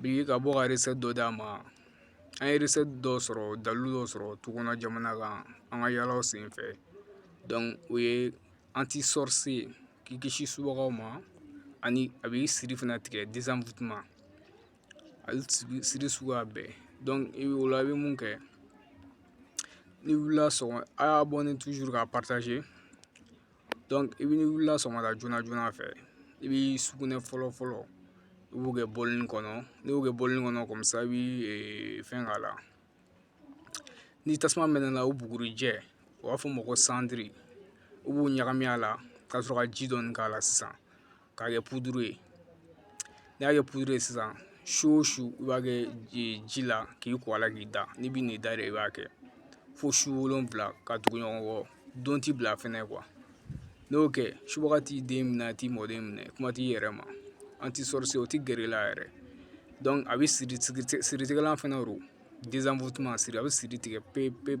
Bi ka bɔ ka dɔ d'a ma an ye dɔ sɔrɔ dalu dɔ sɔrɔ tu kɔnɔ jamana kan an ka yalalaw sen fɛ o ye an tɛ sɔrɔsi ye k'i kisi su ma ani a bɛ siri fana tigɛ dimu ma ali siri suguya bɛɛ i bɛ wolo i bɛ mun kɛ ni wulila sɔn a y'a bɔ ni tuuru ka pataze i bɛ n'i wulila sɔgɔmada joona joona fɛ i bɛ sugunɛ fɔlɔ fɔlɔ i b'o kɛ bɔlini kɔnɔ n'i y'o kɛ bɔlini kɔnɔ comme ça i bɛ fɛn k'a la ni tasuma mɛnɛna o bugurinjɛ u b'a fɔ o ma ko cendre i b'o ɲagami a la ka sɔrɔ ka ji dɔɔni k'a la sisan k'a kɛ puduru ye n'i y'a kɛ puduru ye sisan su o su i b'a kɛ ji la k'i ko a la k'i da n'i bi n'i da yɛrɛ i b'a kɛ fo su wolonwula ka tugu ɲɔgɔn kɔ don ti bila fɛnɛ n'i y'o kɛ subaga t'i den minɛ a t'i mɔden minɛ kuma t'i yɛrɛ ma anti-sorcier o ti gɛrɛ i la yɛrɛ donc a bɛ siri siritigɛlan fɛnɛ don a bɛ siri tigɛ pewu pewu